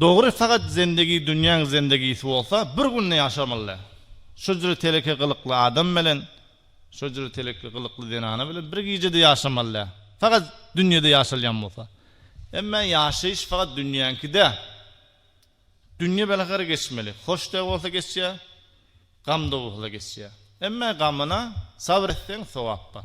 Dogry sagat zendegi dünýäň zendegisi bolsa bir günde ýaşamaly. Şojra teleke gylykly adam bilen şojra teleke gylykly zenana bilen bir gijede ýaşamaly. Sagat dünýede ýaşalýan bolsa. Emmä ýaşaýyş sagat dünýäňki dä. Dünýe belahara geçmeli. Hoş da bolsa geçýä, gam da bolsa geçýä. Emmä gamyna sabr etseň sogap bar.